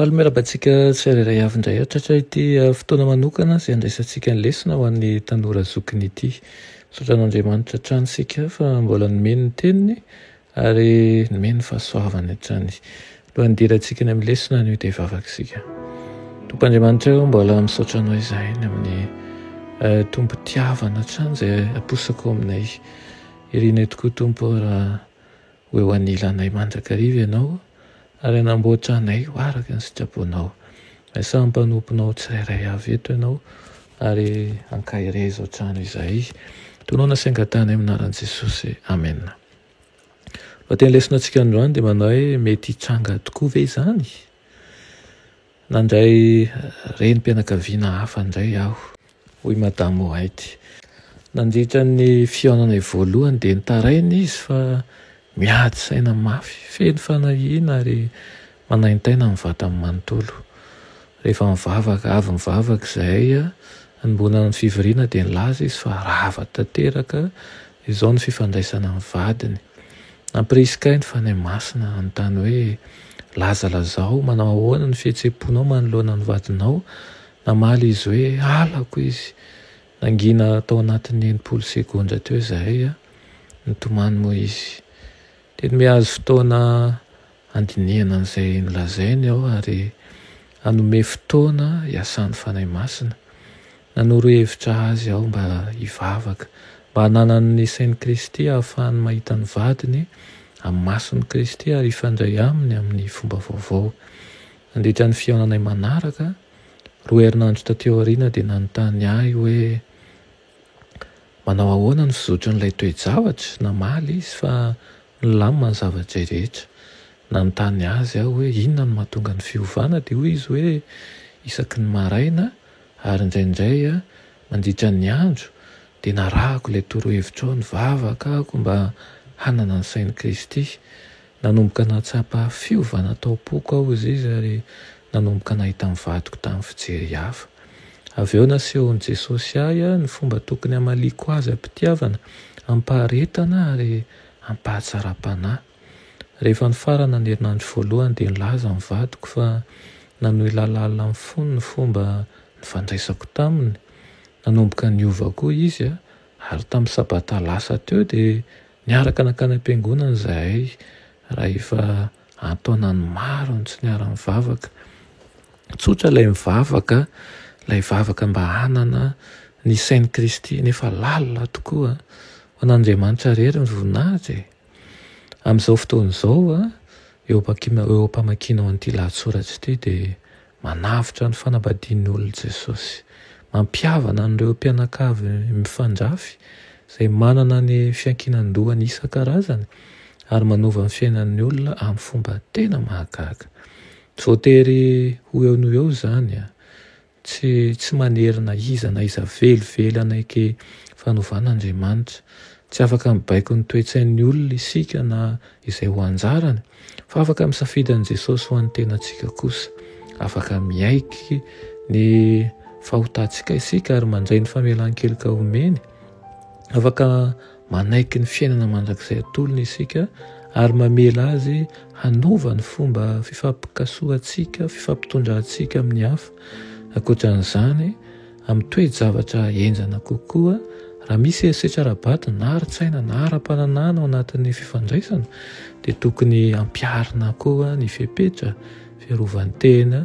Faly miarahaba antsika tsirairay avy indray hatratra ity ah, fotoana manokana izay andraisantsika ny lesona ho an'ny tanora zokiny ity. Misaotra an'Andriamanitra hatrany isika fa mbola nomeny ny teniny ary nomeny ny fahasoavany hatrany. Alohan'ny hidirantsika any amin'ny lesona anio dia hivavaka isika. Tompo Andriamanitra eo mbola misaotra anao izahay ny amin'ny eh, tompo tiavana hatrany izay aposako aminay. Irinay tokoa Tompo ô raha ho eo anilanay mandrakariva Ianao ary hanamboatra anay ho araka ny sitraponao. Dia samy mpanomponao tsirairay avy eto Ianao ary hankahery aiza hatrany izahay. Tonona sy angatahanay amin'ny anaran'i Jesosy. Amena. Lohateny lesonatsika androany dia manao hoe mety hitranga tokoa ve izany? Nandray renim-pianakaviana hafa indray aho. Hoy Madame White. Nandritra ny fihaonanay voalohany dia nitaraina izy fa miady saina mafy, feno fanahiana ary manaintaina ny vatany manontolo. Rehefa nivavaka avy nivavaka izahay hanomboana ny fivoriana dia nilaza izy fa rava tanteraka Izao ny fifandraisana amin'ny vadiny. Nampirisika ahy ny Fanahy Masina hanontany hoe, Lazalazao, manao ahoana ny fihetseham-ponao manoloana ny vadinao? Namaly izy hoe, Halako izy. Nangina tao anatin'ny enimpolo segondra teo izahay, nitomany moa izy. Dia nihazo fotoana Handinihana an'izay nolazainy aho ary hanome fotoana hiasan'ny Fanahy Masina. Nanoro hevitra azy aho mba hivavaka, mba hananany ny sain'i Kristy hahafahany mahita ny vadiny amin'ny mason'i Kristy ary hifandray Aminy amin'ny fomba vaovao. Nandritra ny fihaonanay manaraka, roa herinandro taty aoriana, dia nanontany ahy hoe, Manao ahoana ny fizotran'ilay toe-javatra? Namaly izy fa Nilamina ny zava-dray rehetra. Nanontany azy aho hoe inona no mahatonga ny fiovana, dia hoy izy hoe isaky ny maraina ary indraindray mandritra ny andro, dia narahako ilay torohevitrao, nivavaka aho mba hanana ny sain'i Kristy. Nanomboka nahatsapa fiovana tao am-poko aho, hoy izy, ary nanomboka nahita ny vadiko tamin'ny fijery hafa. Avy eo nasehon'i Jesosy ahy ny fomba tokony hamaliako Azy am-pitiavana, am-paharetana, ary. ampahatsaram-panahy. Rehefa nifarana ny herinandro voalohany dia nilaza ny vadiko fa nanohy lalalina amin'ny fony ny fomba nifandraisako taminy. Nanomboka niova koa izy, ary tamin'ny sabata lasa teo dia niaraka nankany am-piangonana izahay rahefa An-taonany maro no tsy niara-nivavaka. Tsotra ilay mivavaka, ilay vavaka mba hanana ny sain'i Kristy, nefa lalina tokoa. Ho an'Andriamanitra irery ny voninahitra e! Amin'izao fotoana izao, eo ampamakianao an'ity lahatsoratra ity dia Manavotra ny fanambadian'ny olona Jesosy. Mampihavana an'ireo mpianakavy mifandrafy, izay manana ny fiankinan-dohany isan-karazany, ary manova ny fiainan'ny olona amin'ny fomba tena mahagaga. Tsy voatery ho eo noho eo izany. Tsy, tsy manery na iza na iza velively hanaiky fanovan'Andriamanitra. Tsy afaka mibaiko ny toe-tsain'ny olona isika na izay ho anjarany. Fa afaka misafidy an'i Jesosy ho an'ny tenantsika kosa. Afaka miaiky ny fahotantsika isika ary mandray ny famelan-keloka omeny. Afaka manaiky ny fiainana mandrakizay atolony isika ary mamela azy hanova ny fomba fifampikasohantsika, fifampitondrantsika amin'ny hafa. Ankoatra an'izany, amin'ny toe-javatra henjana kokoa, raha misy herisetra ara-bato na ara-tsaina na ara-pananahana ao anatin'ny fifandraisana dia tokony hampiharina koa ny fepetra fiarovan-tena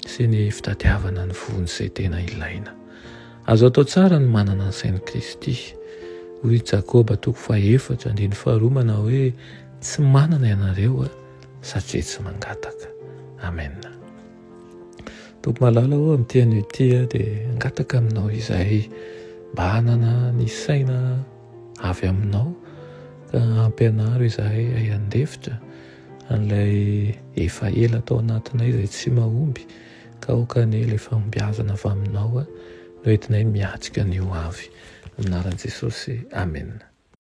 sy ny fitadiavana ny voan'izay tena ilaina. Azo atao tsara ny manana ny sain'i Kristy. Hoy i Jakoba toko fahefatra andininy faharoa manao hoe tsy manana ianareo satria tsy mangataka. Amen. Tompoko malala ô, amin'ity anio ity aho dia hangataka aminao izay mba hanana ny saina avy aminao ka hampianaro izahay hay handefitra an'ilay efa ela tao anatinay izay tsy mahomby ka aoka anie ilay fahombiazana avy aminao no entinay miatrika ny ho avy. Amin'ny anaran'i Jesosy, Amen.